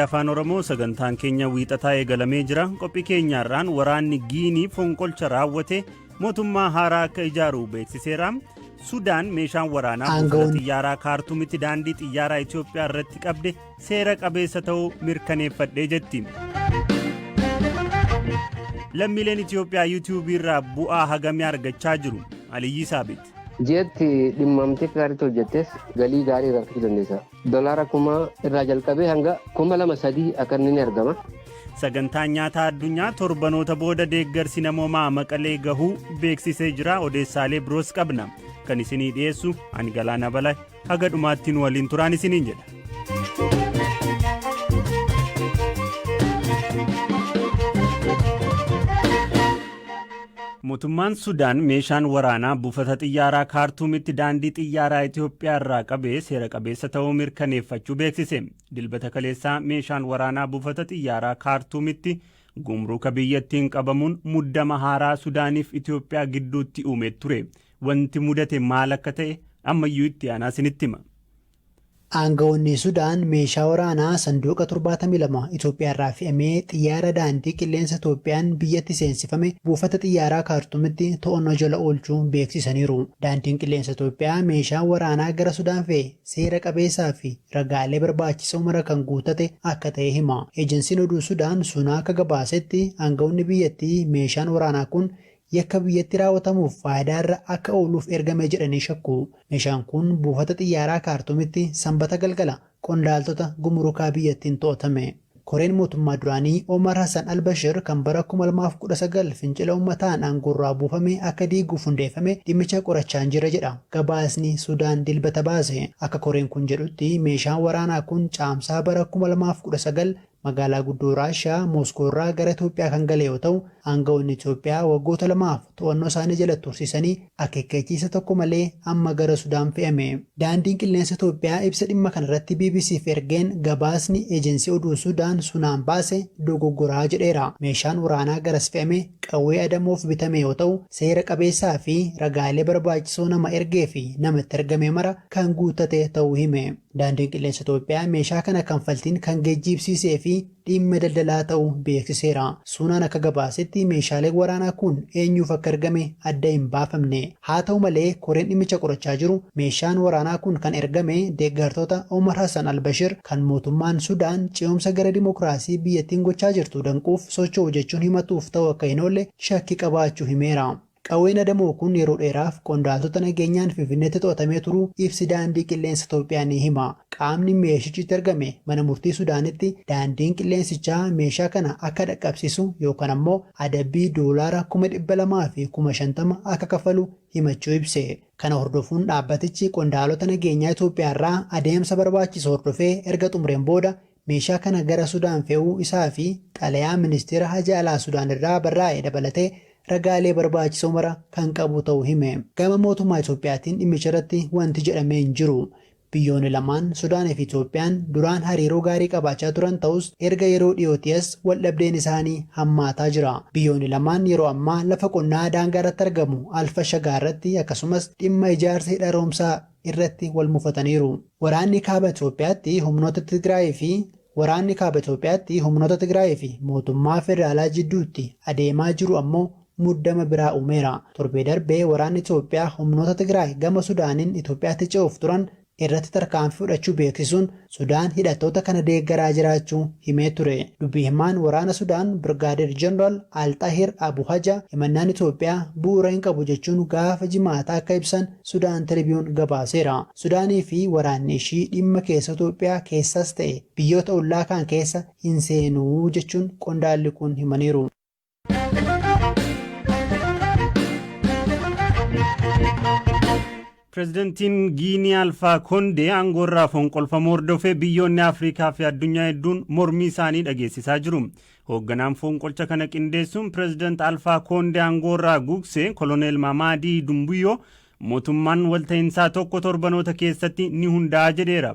afaan oromoo sagantaan keenya wiixataa eegalamee jira qophii keenyaarraan waraanni giinii fonqolcha raawwate mootummaa haaraa akka ijaaru beeksiseera sudaan meeshaan waraanaa buufata xiyyaaraa kaartumitti daandii xiyyaaraa itiyoophiyaa irratti qabde seera qabeessa ta'uu mirkaneeffadhe jetti. Lammiileen Itiyoophiyaa yuutuubii irraa bu'aa hagamii argachaa jiru? Aliyyii Saabit. Ji'atti dhimmamtee akka gaariitti hojjettes galii gaarii irraa argachuu dandeessa. Dolaara kuma irraa jalqabee hanga kuma lama sadii akka inni ni argama. Sagantaan nyaataa addunyaa torbanoota booda deeggarsi namoomaa maqalee gahuu beeksisee jira odeessaalee biroos qabna. Kan isinii dhiyeessu ani Galaanaa Balaa. haga dhumaatti nu waliin turaan isiniin jedha. Mootummaan Sudaan meeshaan waraanaa buufata xiyyaaraa Kaartuumitti daandii xiyyaaraa Itoophiyaa irraa qabee seera qabeessa ta'uu mirkaneeffachuu beeksise. Dilbata kaleessaa meeshaan waraanaa buufata xiyyaaraa Kaartuumitti gumruuka biyyattiin qabamuun muddama haaraa Sudaaniif Itoophiyaa gidduutti uume ture. Wanti mudate maal akka ta'e ammayyuu itti aanaa isinitti hima. Aanga'oonni Sudaan meeshaa waraanaa sanduuqa 72 Itoophiyaarraa fe'amee xiyyaara daandii qilleensa Itoophiyaan biyyatti seensifame buufata xiyyaaraa Kaartumitti to'annoo jala oolchuu beeksisaniiru. Daandiin Qilleensa Itoophiyaa meeshaan waraanaa gara Sudaan fe'e seera qabeessaa fi ragaalee barbaachisoo mara kan guuttate akka ta'e hima. Ejensiin oduu Sudaan Suna akka gabaasetti aanga'oonni biyyattii meeshaan waraanaa kun Yakka biyyatti raawwatamuuf faayidaa irra akka ooluuf ergame jedhanii shakku. Meeshaan kun buufata xiyyaaraa Kaartuumitti Sambata galgala qondaaltota gumurukaa biyyattiin to'atame. Koreen mootummaa duraanii Omar Hassan al-Bashir kan bara 2019 fincila ummataan aangoorraa buufame akka diiguuf hundeeffame dhimmicha qorachaan jira jedha gabaasni Sudaan Dilbata baase. Akka koreen kun jedhutti meeshaan waraanaa kun Caamsaa bara 2019 Magaalaa guddoo Raashiyaa Mooskoo irraa gara Itoophiyaa kan gale yoo ta'u, aanga'oonni Itoophiyaa waggoota lamaaf to'annoo isaanii jala tursiisanii akeekkachiisa tokko malee amma gara Sudaan fe'ame. Daandiin Qilleensa Itoophiyaa ibsa dhimma kana irratti BBC'f ergeen gabaasni Ejensii Oduu Sudaan Sunaan baase dogoggoraa jedheera. Meeshaan waraanaa garas fe'ame qawwee adamoof bitame yoo ta'u, seera qabeessaa fi ragaalee barbaachisoo nama ergee fi nama itti argame mara kan guuttate ta'uu hime. Daandiin Qilleensa Itoophiyaa meeshaa kana kanfaltiin kan geejjiibsiisee fi dhiimma daldalaa ta'u beeksiseera. Suunaan akka gabaasetti meeshaaleen waraanaa kun eenyuuf akka ergame adda hin baafamne. Haa ta'u malee koreen dhimmicha qorachaa jiru meeshaan waraanaa kun kan ergame deeggartoota Omar Hassan al-Bashir kan mootummaan Sudaan ce'umsa gara dimokiraasii biyyattiin gochaa jirtu danquuf socho'u jechuun himatuuf ta'uu akka hin oolle shakkii qabaachuu himeera. Qawween adamoo kun yeroo dheeraaf qondaaltota nageenyaan Finfinneetti to'atamee turuu ibsi Daandii Qilleensa Itoophiyaa ni hima. Qaamni meeshichi itti argame mana murtii Sudaanitti daandiin qilleensichaa meeshaa kana akka dhaqqabsiisu yookaan ammoo adabbii doolaara kuma dhibba lamaa fi kuma shantama akka kaffalu himachuu ibse. Kana hordofuun dhaabbatichi qondaalota nageenyaa Itoophiyaarraa adeemsa barbaachisu hordofee erga xumureen booda Meeshaa kana gara Sudaan fe'uu isaa fi xalayaa Ministeera Haja Alaa Sudaan irraa barraa'e dabalatee ragaalee barbaachisoo mara kan qabu ta'uu hime. Gama mootummaa Itoophiyaatiin dhimmicharratti wanti jedhame hin jiru. Biyyoonni lamaan, Sudaan fi Itoophiyaan, duraan hariiroo gaarii qabaachaa turan ta'us erga yeroo dhiyootii as waldhabdeen isaanii hammaataa jira. Biyyoonni lamaan yeroo ammaa lafa qonnaa daangaarratti argamu Al-Fashagaarratti akkasumas dhimma ijaarsa hidha haroomsaa irratti wal mufataniiru. Waraanni Kaaba Itoophiyaatti humnoota Tigraayii fi Waraanni Kaaba Itoophiyaatti humnoota Tigraayii fi mootummaa federaalaa jidduutti adeemaa jiru ammoo muddama biraa uumeera. Torbee darbe waraanni Itoophiyaa humnoota Tigraay gama Sudaaniin Itoophiyaatti ce'uuf turan irratti tarkaanfii fudhachuu beeksisuun Sudaan hidhattoota kana deeggaraa jiraachuu himee ture. Dubbi himaan waraana Sudaan Birgaadeer Jeneraal Al-Xaahir Abu Haja himannaan Itoophiyaa bu'uura hin qabu jechuun gaafa Jimaataa akka ibsan Sudaan Tiribiyuun gabaaseera. Sudaanii fi waraanni ishii dhimma keessoo Itoophiyaa keessaas ta'e biyyoota ollaa kaan keessa hin seenu jechuun qondaalli kun himaniiru. Pireezidantiin Giinii Alfaa Kondee aangoorraa fonqolfamuu hordofee biyyoonni Afrikaa fi addunyaa hedduun mormii isaanii dhageessisaa jiru. Hoogganaan fonqolcha kana qindeessuun pireezidant Alfaa Kondee aangoorraa gugsee koloneel Mamaadii Dumbuyyoo mootummaan walta'iinsaa tokko torbanoota keessatti ni hundaa'a jedheera.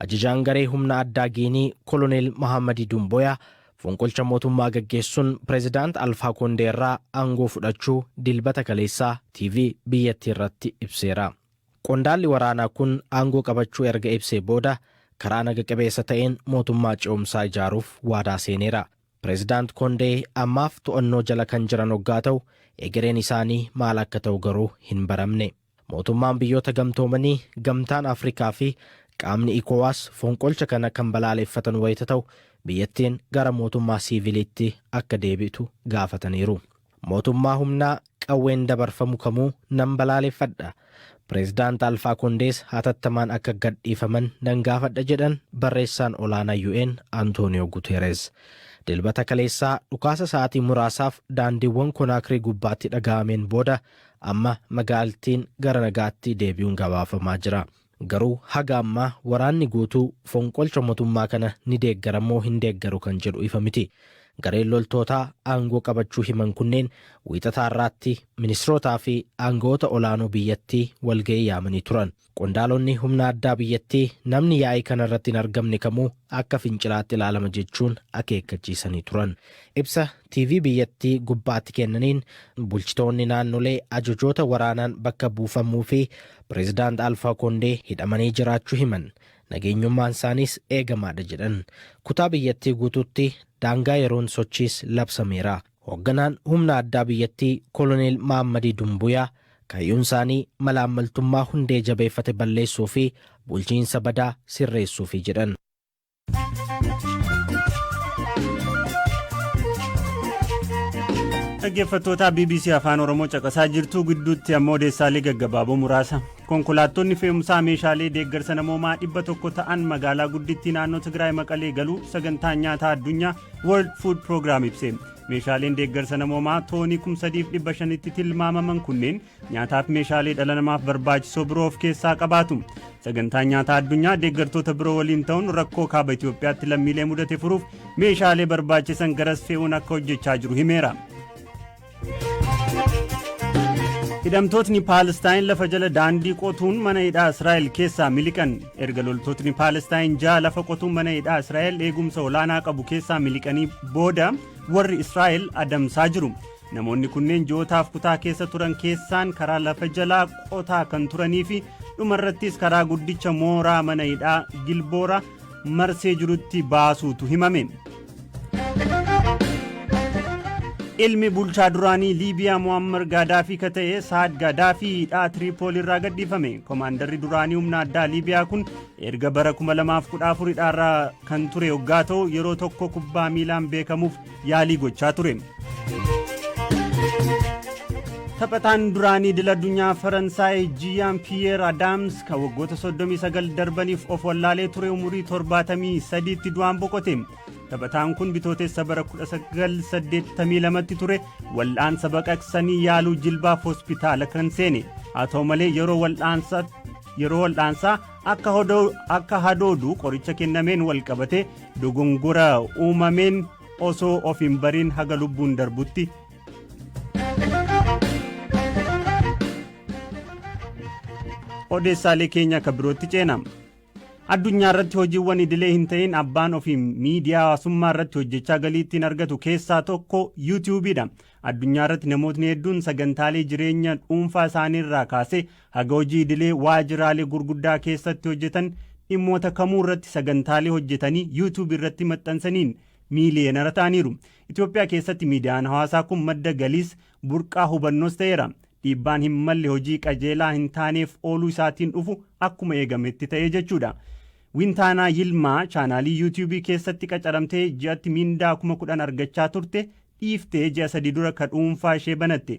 Ajajaan garee humna addaa Giinii Koloneel Mahaammadii Duumboyaa fonqolcha mootummaa gaggeessuun Pireezidaant Alfaa Koondee irraa aangoo fudhachuu Dilbata kaleessaa TV biyyattii irratti ibseera. Qondaalli waraanaa kun aangoo qabachuu erga ibsee booda karaa naga qabeessa ta'een mootummaa ce'umsaa ijaaruuf waadaa seeneera. Pireezidaant Koondee ammaaf to'annoo jala kan jiran oggaa ta'u, egereen isaanii maal akka ta'u garuu hin baramne. Mootummaan Biyyoota Gamtoomanii, Gamtaan Afrikaa fi qaamni Ecowas fonqolcha kana kan balaaleffatan wayita ta'u, biyyattiin gara mootummaa siiviliitti akka deebi'tu gaafataniiru. Mootummaa humnaa qawween dabarfamu kamuu nan balaaleffadha. Pireezidaant Alfaa Kondees hatattamaan akka gadhiifaman nan gaafadha jedhan Barreessaan Olaanaa UN Antooniyoo Guteereez. Dilbata kaleessaa dhukaasa sa'aatii muraasaaf daandiiwwan Konaakrii gubbaatti dhaga'ameen booda, Amma magaalttiin gara nagaatti deebi'uun gabaafamaa jira. Garuu haga ammaa waraanni guutuu fonqolcha motummaa kana ni deeggara moo hin deeggaru kan jedhu ifa miti. Gareen loltootaa aangoo qabachuu himan kunneen Wiixata har'aatti ministirootaa fi aanga'oota olaanoo biyyattii walga'ii yaamanii turan. Qondaalonni humna addaa biyyattii namni yaa'ii kanarratti hin argamne kamuu akka fincilaatti ilaalama jechuun akeekkachiisanii turan. Ibsa TV biyyattii gubbaatti kennaniin bulchitoonni naannolee ajajoota waraanaan bakka buufamuu fi Pireezidaant Alfaa Koondee hidhamanii jiraachuu himan. Nageenyummaan isaaniis eegamaadha jedhan. Kutaa biyyattii guutuutti daangaa yeroon sochiis labsameera. Hoogganaan humna addaa biyyattii Koloneel Mahammadii Dumbuyaa kaayyonsaanii malaammaltummaa hundee jabeeffate balleessuu fi bulchiinsa badaa sirreessuufi jedhan. Dhaggeeffattootaa BBC Afaan Oromoo caqasaa jirtuu gidduutti ammoo odeessaalee gaggabaaboo muraasa. Konkolaattonni fe'umsaa meeshaalee deeggarsa namoomaa dhibba tokko ta'an magaalaa guddittii naannoo Tigraay Maqalee galuu sagantaan nyaataa addunyaa World Food Program ibse. Meeshaaleen deeggarsa namoomaa toonii 3,500tti tilmaamaman kunneen nyaataaf meeshaalee dhala namaaf barbaachisoo biroo of keessaa qabaatu. Sagantaan nyaataa addunyaa deeggartoota biroo waliin ta'uun rakkoo kaaba Itoophiyaatti lammiilee mudate furuuf meeshaalee barbaachisan garas fe'uun akka hojjechaa jiru himeera. Hidhamtootni Paalestaayin lafa jala daandii qotuun mana hidhaa Israa'el keessaa miliqan. Erga loltootni Paalestaayin ja'a lafa qotuun mana hidhaa Israa'el eegumsa olaanaa qabu keessaa miliqanii booda warri Israa'el adamsaa jiru. Namoonni kunneen ji'ootaaf kutaa keessa turan keessaan karaa lafa jalaa qotaa kan turanii fi dhumarrattis karaa guddicha mooraa mana hidhaa Gilboora marsee jirutti baasuutu himame. Ilmi bulchaa duraanii Liibiyaa Mu'ammar Gaadaafii ka ta'e Saad Gaadaafii hidhaa Tiriipoolii irraa gadhiifame. Komaandarri duraanii humna addaa Liibiyaa kun erga bara 2014 hidhaarraa kan ture hoggaa ta'u yeroo tokko kubbaa miilaan beekamuuf yaalii gochaa ture. Taphataan duraanii idil addunyaa Faransaay Jiyaan Piyeer Adaams kan waggoota 39 darbaniif of wallaalee ture umurii 73tti du'aan boqote. Taphataan kun bitootessa bara 1982tti ture wal'aansa baqaqsanii yaaluu jilbaaf hospitaala kan seene. Haa ta'u malee yeroo wal'aansa yeroo wal'aansaa akka hadoodu qoricha kennameen walqabate dogongora uumameen osoo of hin bariin haga lubbuun darbutti odeessaalee keenya akka birootti ceena addunyaa irratti hojiiwwan idilee hin ta'in abbaan ofiin miidiyaa hawaasummaa irratti hojjechaa galii ittiin argatu keessaa tokko yuutiyuubiidha addunyaa irratti namootni hedduun sagantaalee jireenya dhuunfaa isaanii irraa kaasee Haga hojii idilee waajiraalee gurguddaa keessatti hojjetan dhimmoota kamuu irratti sagantaalee hojjetanii YouTube irratti maxxansaniin miiliyeenara ta'aniiru. Itoophiyaa keessatti miidiyaan hawaasaa kun madda galiis, burqaa hubannoos ta'eera. Dhiibbaan hin malle hojii qajeelaa hin taaneef ooluu isaatiin dhufu akkuma eegametti ta'ee jechuudha. Wintaanaa Yilmaa chaanaalii YouTube keessatti qacaramtee ji'atti miindaa kuma kudhan argachaa turte dhiiftee ji'a sadii dura ka dhuunfaa ishee banatte.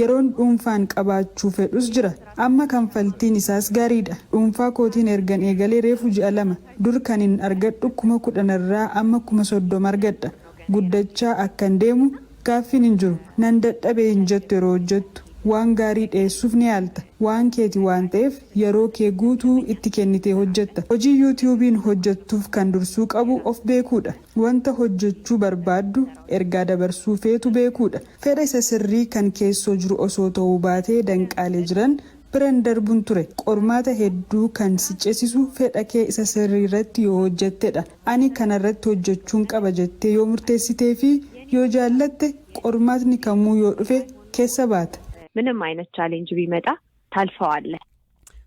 Yeroon dhuunfaan qabaachuu fedhus jira. Amma kanfaltiin isaas gaariidha. Dhuunfaa kootiin ergan eegalee reefu ji'a lama. Dur kanin argadhu kuma kudhanirraa amma kuma soddoma argadha. Guddachaa akkan deemu gaaffiin hin jiru. Nan dadhabe hin jettu yeroo hojjettu. Waan gaarii dhiyeessuuf ni yaalta. Waan keeti waan ta'eef yeroo kee guutuu itti kennitee hojjetta. Hojii Yuutiyuubiin hojjettuuf kan dursuu qabu of beekuudha. Wanta hojjechuu barbaaddu, ergaa dabarsuu feetu beekuudha. Fedha isa sirrii kan keessoo jiru osoo ta'uu baatee danqaalee jiran bira hin darbun ture. Qormaata hedduu kan si cesisu fedha kee isa sirrii irratti yoo hojjatte dha. Ani kana irratti hojjachuun qaba jettee yoo murteessitee fi yoo jaallatte qormaatni kamuu yoo dhufe keessa baata. Minim ayinat challenge biimaxa taalfawaalle.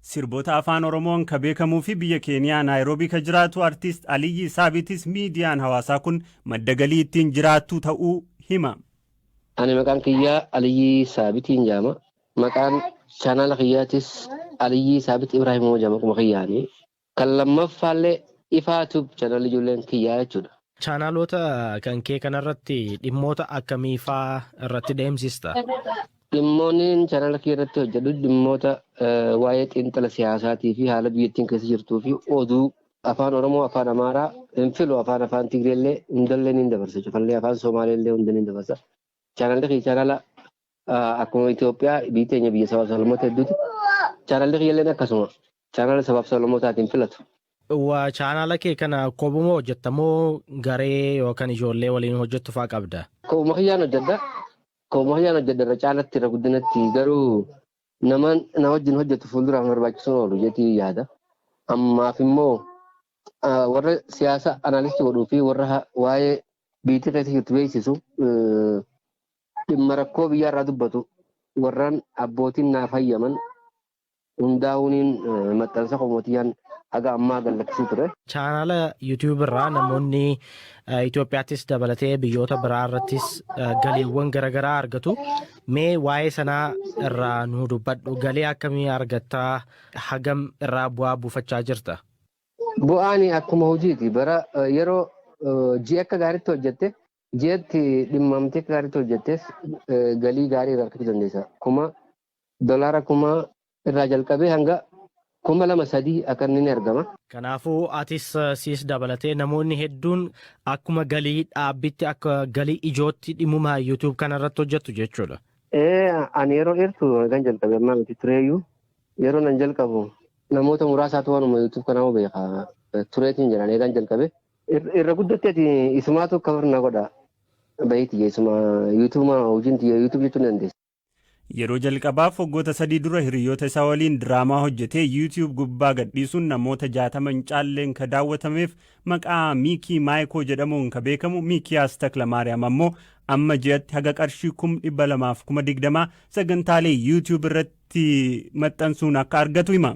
Sirbota Afaan Oromoon ka beekamuu fi biyya Keeniyaa Naayiroobii ka jiraatu Artiist Aliyyii Saabitis miidiyaan hawaasaa kun madda galii ittiin jiraattu ta'uu hima. Ani maqaan kiyya Aliyyii Saabitiin jedhama. Maqaan chaanaala kiyyaatis Aliyyii Saabit Ibraahim Hooja maquma kiyyaani. Kan lammaffaallee Ifaa Tube channel ijoolleen kiyyaa jechuudha. Chaanaloota kan kee kanarratti dhimmoota akkamii faa irratti deemsista? Dhimmoonniin channel kiyya irratti hojjedhu dhimmoota waa'ee xiinxala siyaasaatii fi haala biyyattiin keessa jirtuu fi oduu afaan Oromoo, afaan Amaaraa hin filu afaan afaan Tigreellee hundallee niin dabarsa cufallee afaan Somaaleellee hunda niin dabarsa. Chaanalli kiyya chaanala akkuma Itoophiyaa biyyi teenya biyya sabaaf sablammoota hedduuti. Chaanalli kiyyalleen akkasuma chaanala sabaaf sablammootaatiin filatu. Waa chaanala kee kana kophuma hojjetta moo garee yookaan ijoollee waliin hojjettu fa'aa qabda? Kophuma kiyyaan hojjedha. Kophuma kiyyaan hojjedha irra caalatti irra guddinatti garuu nama na wajjin hojjetu fuulduraaf na barbaachisuun oolu jetii yaada. Ammaaf immoo warra siyaasa anaalisti godhuu fi warra waa'ee biyyattii keessa jirtu beeksisu Dhimma rakkoo biyyaarraa dubbatu warran abbootiin naaf hayyaman hundaa'uuniin maxxansa koo Mootiyyaan haga ammaa gad lakkisee ture. Chaanaala YouTube irraa namoonni Itoophiyaattis dabalatee biyyoota biraa irrattis galiiwwan garaagaraa argatu. Mee waa'ee sanaa irraa nu dubbadhu. Galii akkamii argatta? Hagam irraa bu'aa buufachaa jirta? Bu'aan akkuma hojiiti. Bara yeroo ji'a akka gaariitti hojjette Ji'atti dhimmamtee akka gaariitti hojjettes galii gaarii irraa argachuu dandeessa. Kuma dolaara kuma irraa jalqabee hanga kuma lama sadii akka inni ni argama. Kanaafuu atis siis dabalatee namoonni hedduun akkuma galii dhaabbitti akka galii ijootti dhimmuma YouTube kana irratti hojjettu jechuudha. Ee ani yeroo dheertu kan jalqabe ammaa miti tureeyyuu yeroo nan jalqabu namoota muraasaatu waanuma YouTube kanaa beeka tureetiin jedhan eegaan jalqabe Irra guddatti ati isumaatu cover na godha. Bahii tiyya isuma YouTube maa hojiin tiyya YouTube jechuun ni dandeessa. Yeroo jalqabaaf waggoota sadii dura hiriyoota isaa waliin diraamaa hojjetee YouTube gubbaa gadhiisuun namoota 60 hin caalleen ka daawwatameef maqaa Miikii Maayikoo jedhamuun ka beekamu Miikiyaas Taklamaariyaam ammoo amma ji'atti haga qarshii kum 200 fi kuma 20 sagantaalee YouTube irratti maxxansuun akka argatu hima.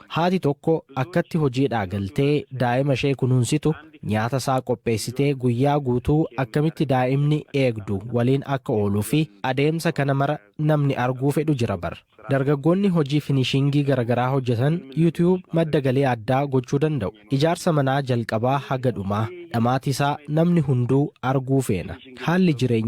Haati tokko akkatti hojiidhaa galtee daa'ima ishee kunuunsitu, nyaata isaa qopheessitee guyyaa guutuu akkamitti daa'imni eegdu waliin akka ooluu fi adeemsa kana mara namni arguu fedhu jira bar. Dargaggoonni hojii finishingii garagaraa hojjetan YouTube madda galii addaa gochuu danda'u. Ijaarsa manaa jalqabaa haga dhumaa, dhamaati isaa namni hunduu arguu feena. Haalli jireenyaa.